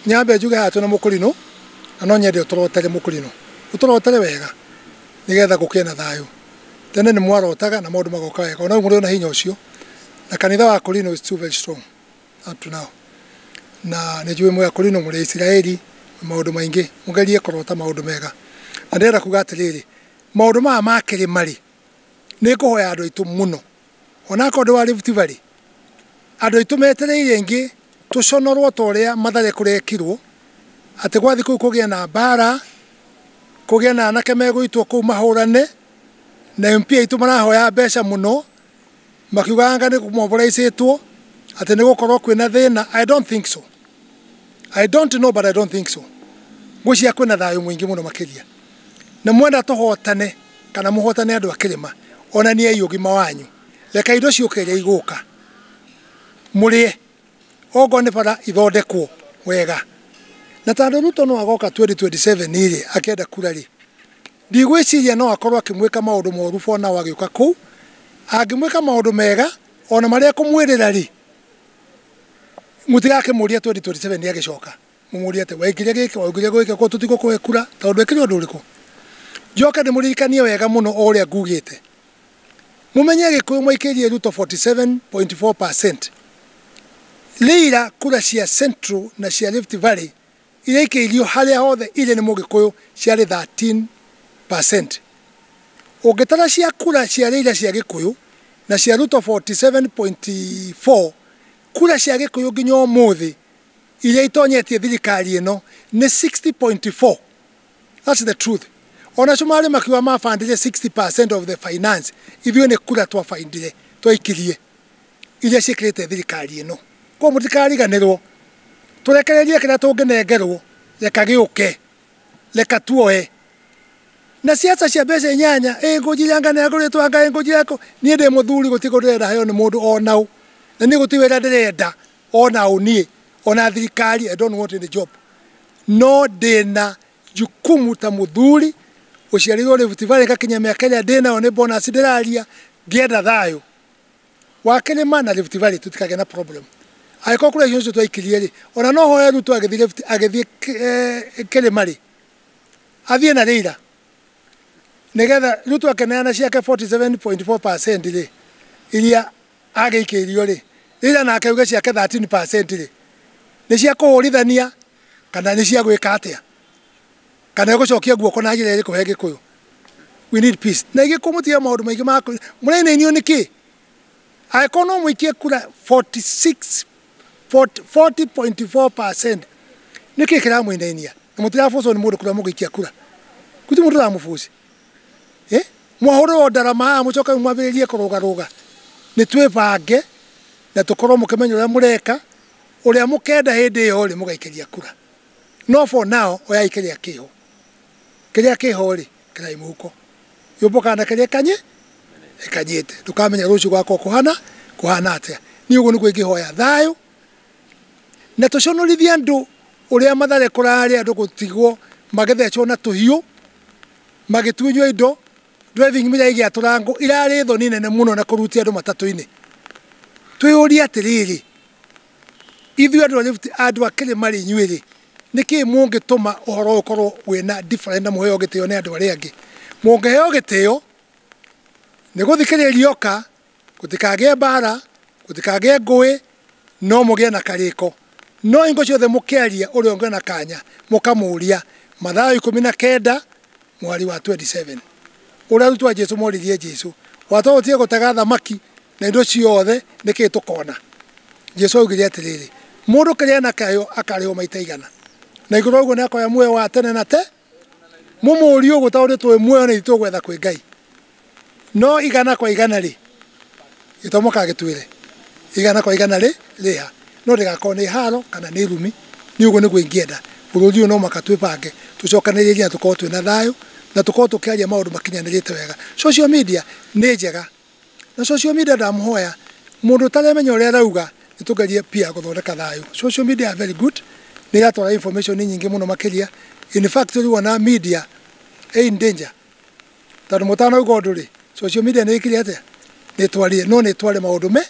nyambe njuge haha twĩna mũkũrinũ na no nyende ũtũrotere mũkũrinũ ũtũrotere wega nĩgetha gũkĩe na thayũ tene nĩ mwarotaga na maũndũ magoka wega ona rĩu mũrĩona hinya ũcio na kanitha wa kũrinũ is too very strong up to now na nĩ njũĩ mwĩ akũrinũ mũrĩ isiraeli maũndũ maingĩ mũgerie kũrota maũndũ mega na ndĩrenda kuga atĩrĩrĩ maũndũ maya makĩrĩ marĩ nĩ ngũhoya andũ aitũ mũno, ona akorwo ndĩ wa Rift Valley, andũ aitũ metereire aingĩ tũconorwo ta ũrĩa Mathare kũrekirwo, atĩ gwathiĩ kũu kũgĩe na mbara, kũgĩe na anake megũitwo kũu mahũrane, na MP aitũ marahoya mbeca mũno, Makiuga Yanga nĩ mobilizĩtwo atĩ nĩ gũkorwo kwĩna thĩna. I don't think so. I don't know but I don't think so. Ngwĩciria kwĩna thayũ mũingĩ mũno makĩria. Nĩ mwenda tũhotane kana mũhotane andũ a kĩrĩma. Onaniai ũgima wanyu. Reka indo ciũke iria igũka. Mũrĩe. Okorwo nĩ bara ithondekwo wega. Na tondũ Ruto no agoka 2027 rĩ akĩenda kura rĩ, Ndigwĩciria no akorũo akĩmwĩka maũndũ moru Fonao agĩũka kũu. Angĩmwĩka maũndũ mega o na marĩa ekũmwĩrĩra-rĩ, mũtigakĩmũrie 2027 agĩcoka mũmũrie atĩ, 'Wekire gĩkĩ, waugire gwĩkĩ, koguo tũtigũkũhe kura tondũ ndwekire ũndũ ũrĩkũ? Njoke ndĩmũririkanie wega mũno o ũrĩa ngugĩte. Mũmenye Agĩkũyũ maikĩirie Ruto 47.4%. Leila kura cia Central na cia Rift Valley Iraikĩirio harĩa hothe irĩ nĩ Mũgĩkũyũ ciarĩ 13 per cent. Ũngĩtara cia kura cia Rĩira cia Gĩkũyũ na cia Ruto 47.4, kura cia Gĩkũyũ nginya ũmũthĩ iria itonyetie thirikari ĩno nĩ 60.4. That's the truth. Ona Cumarĩ makiuga mabandire 60 per cent of the finance, ithuĩ nĩ kura twa findire, twaikirie. iria ciĩkĩrĩte thirikari ĩno. Koguo mũtikariganĩrwo, tũrekererie kĩrĩa tũngĩnengerwo, reka gĩũke, reka tuoe. Na ciaca cia mbeca inyanya, ĩ ngũnjiri anga nĩ ngũrĩtwo anga ĩ ngũnjiri anga, niĩ ndĩ mũthuri gũtirĩ kĩndũ ndĩrenda heo nĩ mũndũ ona ũ, na niĩ gũtirĩ wĩra ndĩrenda ona ũ niĩ, ona thirikari I don't want any job. No ndĩna jukumu ta mũthuri ũciarĩirwo Rift Valley ngakinyia mĩaka ĩrĩa ndĩnayo nĩ bonus ndĩraria, ngĩenda thayũ. wakĩrĩ ma na Rift Valley tũtikagĩa na problem agĩkorwo kũrĩa icio twaikirie rĩ ona no hoya Ruto agĩthiĩ Rift agĩthiĩ eh, kĩrĩma rĩ athiĩ na Raila nigetha Ruto akeneana ciake 47.4% rĩ iria agĩikĩirio rĩ Raila na akauge ciake 13% rĩ nĩ cia kũhũrithania kana nĩ cia gwĩka atĩa kana ĩgũcokia guoko na njĩra ĩrĩkũ he gĩkũyũ we need peace na igĩkũyũ mũtige maũndũ maingĩ ma mũrainainio nĩ kĩ angĩkorwo no mũikie kura 46 40.4 nĩ kĩ kĩramũinainia na mũtirabucwo nĩ mũndũ kura mũgĩikia kura kuti mũndũ ũramũbuci eh? mwahũrĩrwo ndarama haha mũcoke mwambĩrĩrie kũrũgarũga nĩ twĩbange na tũkorwo mũkĩmenya ũrĩa mũreka ũrĩa mũkenda hĩndĩ ĩyo rĩ mũgaikĩria kura no for now oyai keria kiho keria kiho ri kerai muhuko yumbo kana keria ekanye ekanyete ndukamenya rucio gwako kuhana kuhana atia ni uguo niguo ingihoya thayo na tuconorithie andu uria mathare kurari andu gutigwo magithecwo na tuhiu magitunywo indo driving mira igiatura ngo irari thoni nene muno na kurutia andu matatu-ini twiyuria atiriri Ithuĩ andũ a Rift, andũ a kĩrĩma rĩ, inyuĩ rĩ, nĩ kĩĩ mũngĩtũma ũhoro ũyũ ũkorwo wĩ na different na mũheo gĩtĩo nĩ andũ arĩa angĩ? Mũngĩheo gĩtĩo, nĩ gũthikĩrĩria oka, gũtikagĩe mbaara, gũtikagĩe ngũĩ, no mũgĩe na karĩko. No hingo ciothe mũkĩaria ũrĩa ũngĩ ona kanya, mũkamũũria. Mathayo ikũmi na kenda, mũhari wa twenty seven. Ũrĩa arutwo a Jesu moririe Jesu, Watwahotire gũtega thamaki? Na indo ciothe nĩkĩ tũkona? Jesu augire atĩrĩrĩ, mũndũ kĩrĩa enakĩo akarĩhwo maita igana. Na igũrũ wa ũguo nĩakoya muoyo wa tene na te. Mũmũũrie ũguo tondũ nĩtũĩ muoyo na itũgwetha kwĩ Ngai. No igana kwa igana rĩ, gĩtomo kagĩtwĩre igana kwa igana rĩ rĩha. No ndĩgakorwo nĩ haro kana nĩ irumi. Niĩ ũguo nĩguo ingĩenda. Bũrũri ũyũ no mũhaka twĩbange, tũcokanĩrĩrie na tũkorwo twĩna thayũ, na tũkorwo tũkĩaria maũndũ makinyanĩrĩte wega. Social media nĩ njega. Na social media ndamuhoya mundu utaremenya uria arauga nitugerie pia guthondeka thayu. Social media are very good ni iratwara information nyingi muno makiria. In fact riu ona media ĩ in danger tondu mutanauga undu ri social media ni ikire atia? Ni itwarire no ni itware maundu me.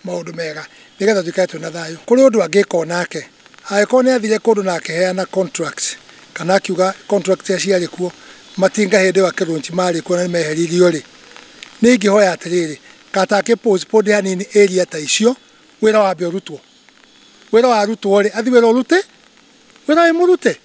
maũndũ mega nĩgetha tũikare twĩna thayũ. Kũrĩ ũndũ angĩka o nake, angĩkorwo nĩ athire kũndũ na akĩheana contract kana akiuga contract iria ciarĩ kuo matinga hĩndĩ ĩyo akĩrũnji marĩ kuo na nĩ meheririo-rĩ, niĩ ingĩhoya atĩrĩrĩ, kata akĩ postpone hanini area ta icio, wĩra wambe ũrutwo. Wĩra warutwo-rĩ, athiĩ wĩra ũrute, wĩra wĩ mũrute.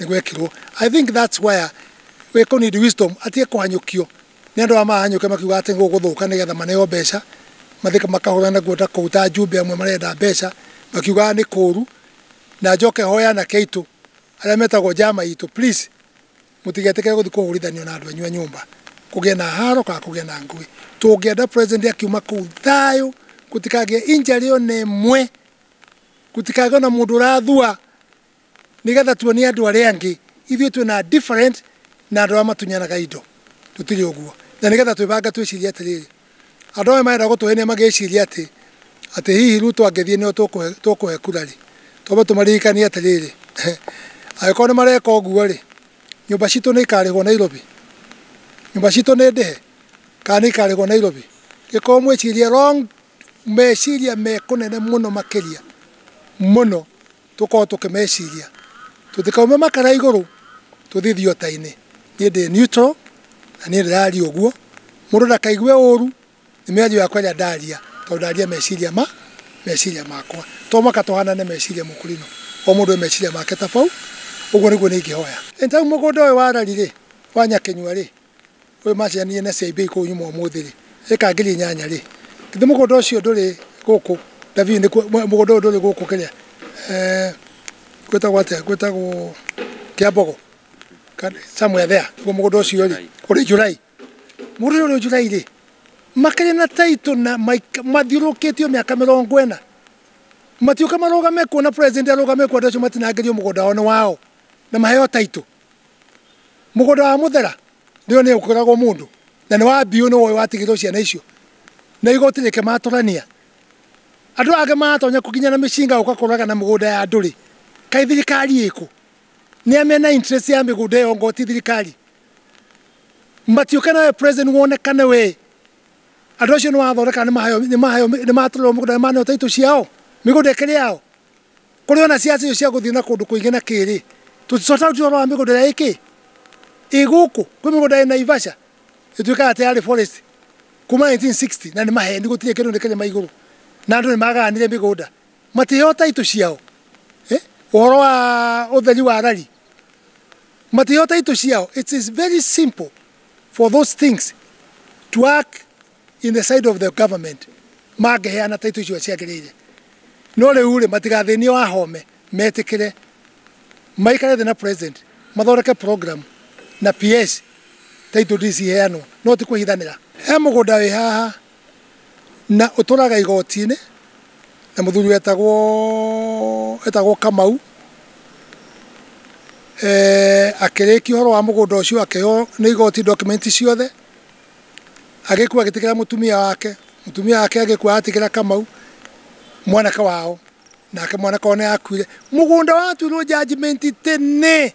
nĩ gwekirwo i think that's where we could need wisdom atige kũhanyũkio nĩ andũ aya mahanyũke makiuga atĩ gũkũ gũthũka nĩgetha maneo mbeca mathika makahũra naguo ta kũu ta njumbe amwe marenda mbeca makiugaga nĩ kũũru na njoke hoya anake aitũ arĩa metagwo njama itũ please mũtigetĩkĩre gũthiĩ kũhũrithanio na andũ anyu a nyũmba kũgĩe na haro kana kũgĩe na ngũĩ tũngĩenda president akiuma kũu thayũ gũtikagĩe injury ona ĩmwe gũtikagĩe ona mũndũ ũrathua nĩgetha tuonie andũ arĩa angĩ ithuĩ twĩ na different na andũ arĩa matunyanaga indo tũtirĩ ũguo na nĩgetha twĩbange twĩcirie atĩrĩrĩ andũ aya marenda gũtũhenia magĩciria atĩ atĩ hihi Ruto angĩthiĩ nĩo tũkũhe tũkũhe kura rĩ twambe tũmaririkanie atĩrĩrĩ angĩkorwo nĩ mareka ũguo rĩ nyũmba citũ nĩ ikarĩhwo Nairobi nyũmba citũ nĩ ndĩhe kana nĩ ikarĩhwo Nairobi gĩkorwo mwĩcirie wrong meciria mekũnene mũno makĩria mũno tũkorwo tũkĩmeciria tũtikaume makara igũrũ tũthiĩ thiota-inĩ niĩ ndĩ neutral na niĩ ndĩraria ũguo mũndũ ndakaigue ũru nĩ mĩario yakwa ĩrĩa ndaria tondũ ndaria meciria ma meciria makwa to mũhaka tũhanane meciria mũkũrino o mũndũ e meciria make tabau ũguo nĩguo niĩ ingĩhoya. Anytime mũgũnda ũyũ wa rari rĩ wa nyakĩnyua rĩ Ũyũ maciaranire na ciaimbe ikũũ nyuma ũmũthĩ rĩ, ĩka ngiri inyanya rĩ, githĩ mũgũnda ũcio ndũrĩ gũkũ David, nĩkuo mũgũnda ũyũ ndũrĩ gũkũ kĩrĩa eh, gwĩtagwo atĩa, gwĩtagwo Kĩambogo Ka- somewhere there, nĩguo mũgũnda ũcio rĩ, ũrĩ July mũgũnda ũyũ ũrĩ July rĩ, makĩrĩ na taitũ na maik- mathiũrũkĩtio mĩaka mĩrongo ĩna matiũka marũgame kuo na president arũgame kuo andũ acio matinangĩrio mũgũnda wao nĩ wao na maheo taitũ Mũgũnda wa mũthera ndĩo nĩ ũkũragwo mũndũ na nĩ wa mbiũ nĩ woĩ watigĩrwo ciana icio na igoti rĩkĩmatũrania. Andũ angĩ maratonya nginya na mĩcinga gũka kũraga na mĩgũnda ya andũ rĩ, kaĩ thirikari ĩkũ? Nĩa mena interest ya mĩgũnda ĩyo anga ti thirikari? Matiũke nawe president wonekane wee, andũ acio nĩ wathondeka nĩ maheo, nĩ maheo, nĩ matũrerwo mũgũnda, nĩ maneo title ciao? Mĩgũnda ĩkĩrĩ yao? Kũrĩ ona ciaca icio cia gũthiĩ na kũndũ kũingĩ na kĩĩ-rĩ, tũticokaga gũtua ũhoro wa mĩgũnda ĩrĩa ĩ kĩĩ? Ĩ gũkũ. Kwĩ mĩgũnda ĩ Naivasha ĩtuĩkaga atĩ yarĩ forest kuma 1960 na nĩ maheni gũtirĩ kĩndũ nĩ kĩrĩma igũrũ na andũ nĩ magayanire mĩgũnda matiheo title ciao. Ũhoro wa ũtheri wa rari matiheo title ciao. It is very simple for those things to work. in the side of the government mangĩheana taitũ icio ciagĩrĩire no rĩu rĩ matigathĩnio a home metĩkĩre maikare thĩ na president mathondeke program na PS taitũ ndii ciheanwo no ti kũhithanĩra he mũgũnda wĩ haha na ũtũraga igoti-inĩ na mũthuri wetagwo etagwo Kamau eh, akĩrĩkia ũhoro wa mũgũnda ũcio akĩheo nĩ igoti document ciothe agĩkua agĩtigĩra mũtumia wake, mũtumia wake agĩkua atigĩra Kamau mwanake wao, nake mwanake wao nĩakuire. Mũgũnda watuirwo judgment tene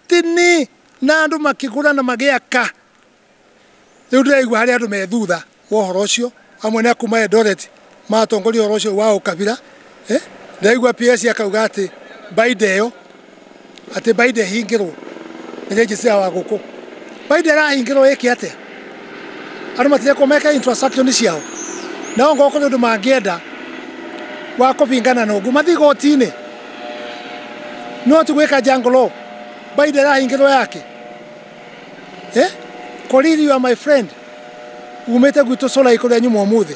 tene, na andũ makĩgũra na magĩaka. Rĩu ndĩraigua harĩ andũ me thutha wa ũhoro ũcio, amwe nĩ a kuma Eldoret, matongoria ũhoro ũcio wa ũkabira eh, ndaigua PS akauga atĩ baida ĩyo atĩ baida ĩhingĩrwo nĩ rĩnjĩcĩa wa gũkũ baida ĩrahingĩrwo ĩke atĩa andũ matirekwo meke infrastructure nĩ ciao nao ngoko nĩ ũndũ mangĩenda wa kũbingana na ũguo mathiĩ goti-inĩ no ti gwĩka jangolo baida ĩrahingĩrwo yake eh? koririo my friend umĩte gwitũ sola ikũrĩa nyuma ũmũthĩ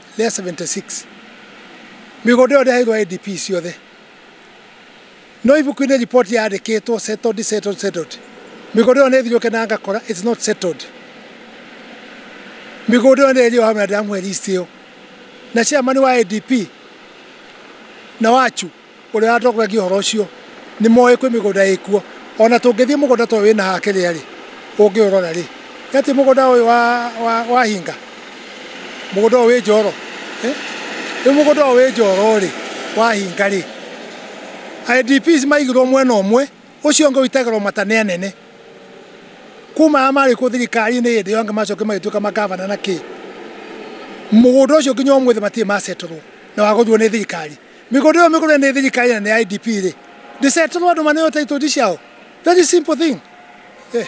rĩa 76 mĩgũnda ĩyo ndĩraheirwo IDP ciothe no ibuku-inĩ riboti yandĩkĩtwo settled settled settled mĩgũnda ĩyo nĩ thirũke na ngakora it's not settled mĩgũnda ĩyo nĩ ĩrĩ o hamwe na ndĩramũhe list ĩyo na chairman wa IDP na wachu Ũrĩa watongoragia ũhoro ũcio nĩ moĩ kwĩ mĩgũnda ĩ kuo. O na tũngĩthiĩ mũgũnda ta ũyũ wĩ na haha kĩrĩa-rĩ, ũngĩũrora-rĩ, nĩ atĩ mũgũnda ũyũ wahinga? Mũgũnda ũyũ wĩ Njoro? Rĩu mũgũnda ũyũ wĩ Njoro-rĩ, wahinga-rĩ, IDPs maigirwo mwena ũmwe, ũcio ũngĩ ũitagĩrwo mata nĩ anene. Kuma arĩa marĩ kuo thirikari-inĩ hĩndĩ ĩyo angĩ macokire magĩtuĩka mangabana na kĩĩ. Mũgũnda ũcio nginya ũmũthĩ matirĩ macetorwo na wagũrirwo nĩ thirikari. Mĩgũnda ĩyo mĩgũre nĩ thirikari na nĩ IDP rĩ, ndĩceterwo andũ maneo title ciao? Very simple thing. Eh.